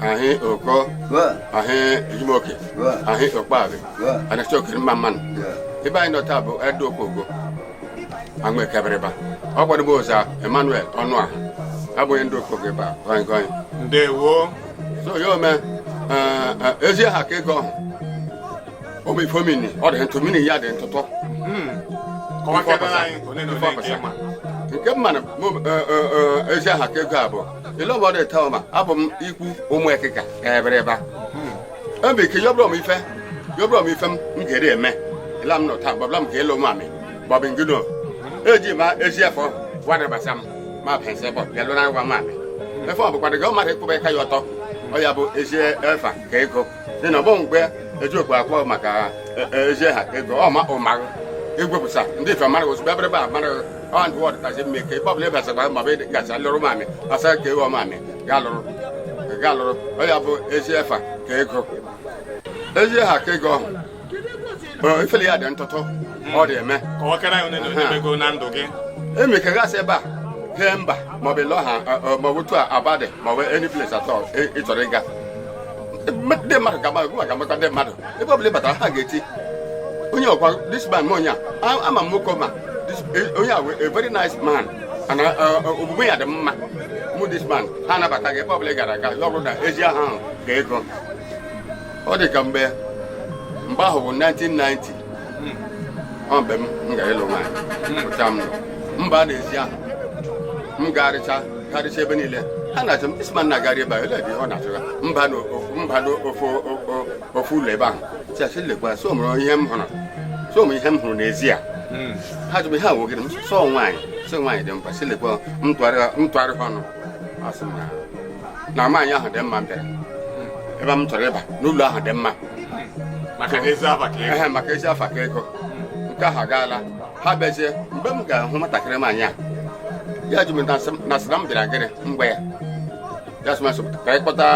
ahị ụkọ ahị ejimoke ahị okpaghi anachokere mma mma nụ ebe anyị nọ taa bụ ndị okogo amaeke ebịrịba ọ kwadebe sa emmanuel ọnụọha abụ onye ndị okogo ebe a gọnyị gọnyị ndewo so ya ome eh, eh, ezi aha ka ego ọhụ ụmụ ife ọ mini ọ dị ntụ meaning ya dị ntụtụ Hmm. kọwakebere anyị nke ole na ole nke ị ma nke mmanụ mụ, eh, eh, eh, ezi aha ka ego a bụ ile ọbọdụ ete ọma abụ m ikwu ụmụ ekịka ebịrịba ebe ike yọbụrụ m ife yọbụrụ m ife m m ga-eri eme ịla m nọ taa gbabla m ka elu nwamị bọbị ngino eji ma ezi afọ wadabasa m ma pensị bọ bịa lụrụ nwamị efe ọ bụkwa na mmadụ ịkwụba ịka ya ọtọ ọ ya bụ ezi efa ka ego dị na ọbọ mgbe eji okwu akpọ maka e- e- ezi aha ka ego ọ ma ụmarụ egwepụsa ndị ife mara ozugbo abịrịba amara ọ ndị wọdụ kacha mma ike ebe ọbụla ị basakwa ma bụ gacha lụrụ nwamị asị ka ị họ nwamị ga lụrụ ga lụrụ ọ ya bụ ezi efa ka ego ezi aha ka ego ọhụ Ọ, ifele ya dị ntụtụ ọ dị eme ka ọ kara onye na onye mego na ndụ gị emi ka gasị ebe a hee mba maọbụ lọ ha maọbụ tu abadị maọbụ any place at all ị chọrọ ịga ndị mmadụ ga-amakwa ndị mmadụ ebe ọbụla ị batara ha ga-eti onye ọkwa this man m onye a ama m nwoke ma onye a a very nice man na omume ya dị mma mụ this man ha anabata gị ebe ọbụla ị gara aga ọ bụrụ na ezi aha ahụ ka ego ọ dị ka mgbe mgbe ahụ bụ 1990 ọ mgbe m m gara ịlụ nwaanyị pụta m mba a n'ezi ahụ m garịcha garịcha ebe niile ha na-achọ m isma na garị ebe a ele ebe ọ na-achọ ya mba na ofu mba na ofu o- ofu ụlọ ebe ahụ tiachi lekwa so mụrụ ihe m hụrụ so mụ ihe m hụrụ n'ezi a ha jụrụ ihe a wogịrị m sọ nwaanyị sọ nwaanyị dị mkpa si lekwa m tụgharịa m tụgharịa ọnụ asị m na na nwaanyị ahụ dị mma m bịara ebe m chọrọ ịba n'ụlọ ahụ dị mma maka ezi afa ka ego maka ezi afa ka ego nke ahụ agaala ha bịazie mgbe m ga-ahụ nwatakịrị nwaanyị a ya jụ m na sị na m bịara gịnị m gwa ya ya sị m asị ka anyị kpọta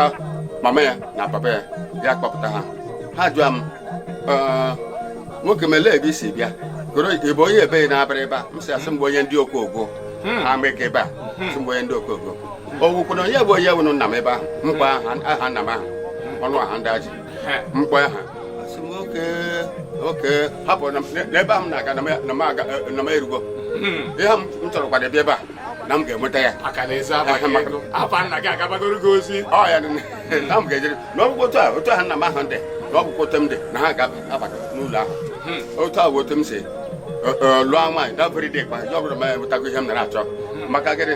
mama ya na papa ya ya kpọpụta ha ha jụọ m nwoke m elee ebe i si bịa goro ị bụ onye ebe na-abịara ebe a m si asị m bụ onye ndị okogo hmm. ama ebe a hmm. sị m bụ onye ndị okogo owukwu na onye bụ onye wụnụ nna m ebe ahụ m kpọọ aha nna m ahụ ọ nụ aha ndị ahụ m kpọrọ aha a sị m okay okay hapụ n'ebe ahụ m na-aga na m erugo ihe m chọrọ kwado ebe a na m ga-enweta ya ọ ya na m ga-ejere na ọ bụkwa otu a otu aha nna m ahụ ndị na ọ bụkwa otu m dị na ha ga-abata n'ụlọ ahụ otu a bụ otu m si lụọ nwaanyị dabere dị kwa ya ọ bụrụ ma ya enwetago ihe m nara achọ maka gịnị